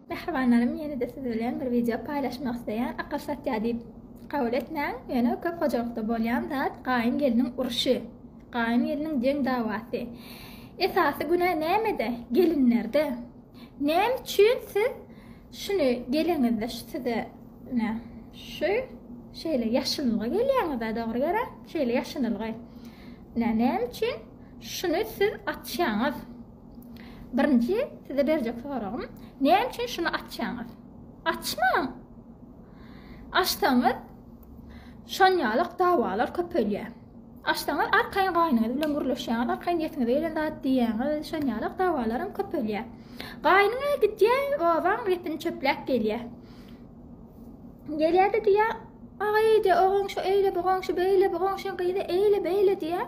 Mähribanlarym ýene-de siz bilen bir wideo paýlaşmak isleýän akyl satýa diýip kabul etmäň ýöne köp hojalykda bolýan zat gaýyn gelniň urşy gaýyn gelniň deň dawasy esasy günä nämede gelinlerde näme üçin siz şuny geleňizde şu size ne şu şeýle ýaşylnga gelýäňizä dogry gerä şeýle ýaşynylgy ne näme üçin şuny siz açýaňyz. Birinji size berjek soragym, näme üçin şuny açýaňyz? Açmaň! Açsaňyz, şonýalak dawalar köpelýär. Açsaňyz, arkaýyn gaýnyňyz bilen gürleşýäňiz, arkaýyn ýetiňize gelen zat diýýäňiz, şonýalak dawalaram köpelýär. Gaýnyňa gidýär, obaň repini çöpläp gelýär. Gelýär-de diýýär, Aý, diýýär, o goňşy eýle, bu goňşy beýle, bu goňşyň gyzy eýle, beýle diýýär.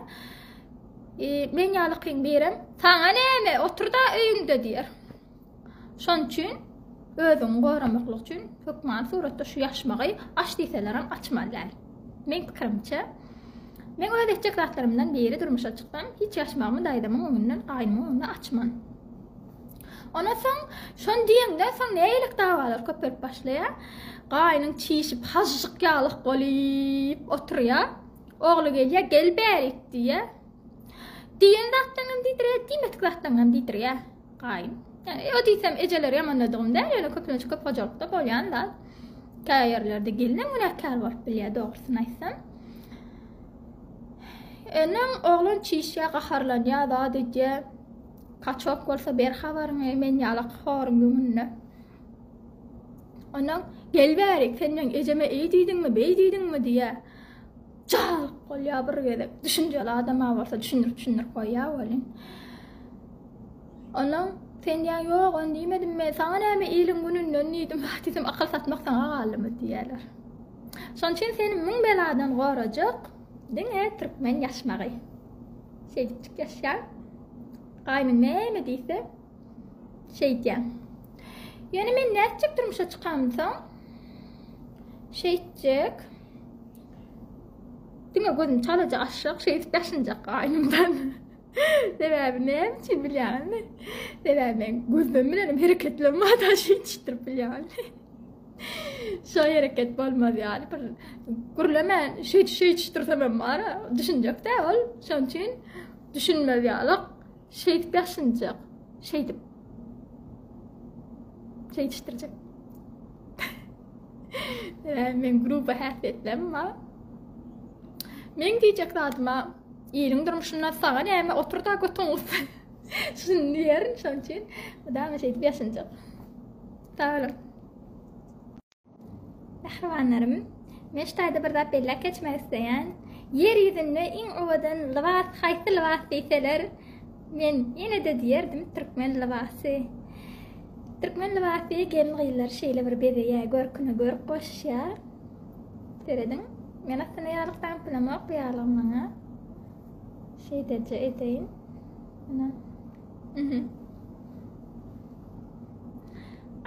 E, men ýaly kyn birem, saňa näme, otur-da öýüňde diýer. Şonuň üçin özüňi goramaklyk üçin hökman suratda şu ýaşmagy aç diýselerem açmaly däl. Men pikirimçe, Men öz etjek zatlarymdan biri durmuşa çyksam, hiç ýaşmagymy daýzamyň öňünden, gaýnymyň öňünden açman. Ondan soň, şon diýeňden soň nälik dawalar köpelip başlaýar. Gaýnyň çişip, hažžyk ýalyk bolup oturýar. Ogly gelýär, gel bärik diýýär. Diýen zatlaňam diýdirýär, diýmedik zatlaňam diýdirýär gaýyn. Ýani o diýsem ejeleri ýamanladygym däl, ýöne köplenç köp hojalykda bolýan zat. Käýe ýerlerde gelinem günäkär bolup bilýär dogrusyny aýtsam. Öňem oglan çişýär, gaharlanýar, zat edýär. Kaçok bolsa ber habaryňy, men ýalak horuň öňünde. Ondan gel bärik, sen meň ejeme eý diýdiňmi, beý diýdiňmi diýýär. Jaýylyk bolýar bir gezek. Düşünjeli adama bolsa düşündirip düşündirip goýýar welin. Ondan sen diýýän ýok on diýmedim men saňa näme iliň gününden diýdim wah diýdim akyl satmak saňa galdymy diýýärler. Şonuň üçin seni müň beladan gorajak diňe türkmen ýaşmagy. Şeýdipjik ýaşaýar. Gaýnym näme diýse Şeýdýän. Ýöne men nätjek durmuşa çykamsoň? Şeýtjek. Diňe gözüm çalaja aşjak, şeýdip daşynjak gaýnymdan. Sebäbi näme üçin bilýäňizmi? Sebäbi men gözüm bilen hereketlerim bar da şeýtişdirip bilýän. Şu hereket bolmaz ýaly bir gürlemen şeýt şeýtişdirsem hem bar, düşünjek däl ol. Şonuň üçin düşünmez ýaly. Şeýdip ýaşynjak. Şeýdip. Şeýdişdirjek. Ee, men gruba häsiýetlem ma. Men diýjek zadyma iriň durmuşynda saňa näme otur da götüň ussa. Şuny diýerin şoň üçin. Dama şeýdip ýaşynjak. Sag boluň. Mähribanlarym, men şu taýda bir zat belläp geçmek isleýän. Ýer ýüzünde iň owadan lybas haýsy lybas diýseler, men ýene-de diýerdim, türkmen lybasy. Türkmen lybasy gelin-gyzlary şeýle bir bezeýär, görküne görk goşýar. Serediň, men aslynda ýaglyk daňyplamok, bu ýaglygy maňa şeýdeje edeýin. Ana,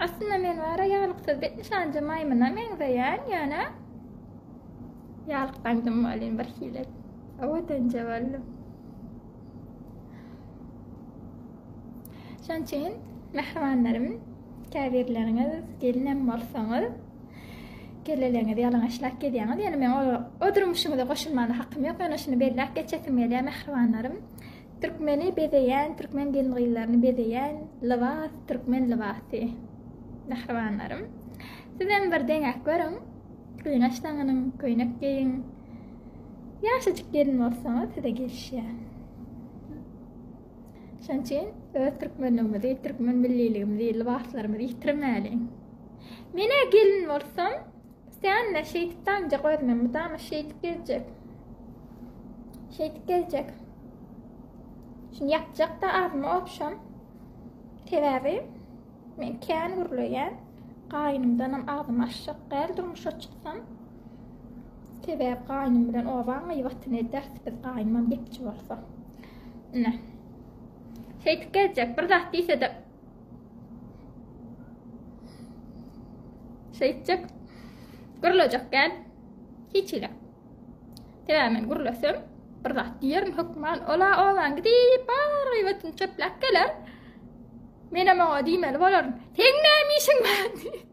Aslynda men wara ýalyksyz bet nyşanja maýmyna meňzeýän, ýöne ýalykdaňdym welin bir hili owadanja boldum. Şonuň üçin mähribanlarym, käbirleriňiz gelinem bolsaňyz, kelleleňizi ýalaňaçlap gezýäňiz. Ýöne men o durmuşyňyza goşulmana hakym ýok, ýöne şuny belläp geçesim gelýär, mähribanlarym. Türkmeni bezeýän türkmen gelin-gyzlaryny bezeýän lybas türkmen lybasy. Mähribanlarym. Sizem bir deňäp görüň. Gyňaç daňynyň, köýnek geýiň. Ýaşajyk gelin bolsaňyz size gelişýär. Şonuň üçin öz türkmenligimizi, türkmen milliligimizi, lybaslarymyzy ýitirmäliň. Men-ä gelin bolsam, Sen-de şeýdip damjak özüme mydama şeýdip gezjek. Şeýdip gezjek. Şuny ýapjak-da agzyma obşam. Sebäbi men kän gürleýän. Gaýynymdanam agzymy açjak däl durmuşa çyksam. Sebäbi gaýnym bilen obaň gyýbatyny ederis biz gaýnymam gepçi bolsa. Ine. Şeýdip gezjek. Bir zat diýse-de Şeýtjek gürlejek gel. Hiç ile. Sebäbi men gürlesem, bir zat diýerin hökman. Ola oban gidip, bar gaýbatyn çöpläp geler. Menem oňa diýmeli bolaryn. Seň näme işiň bar?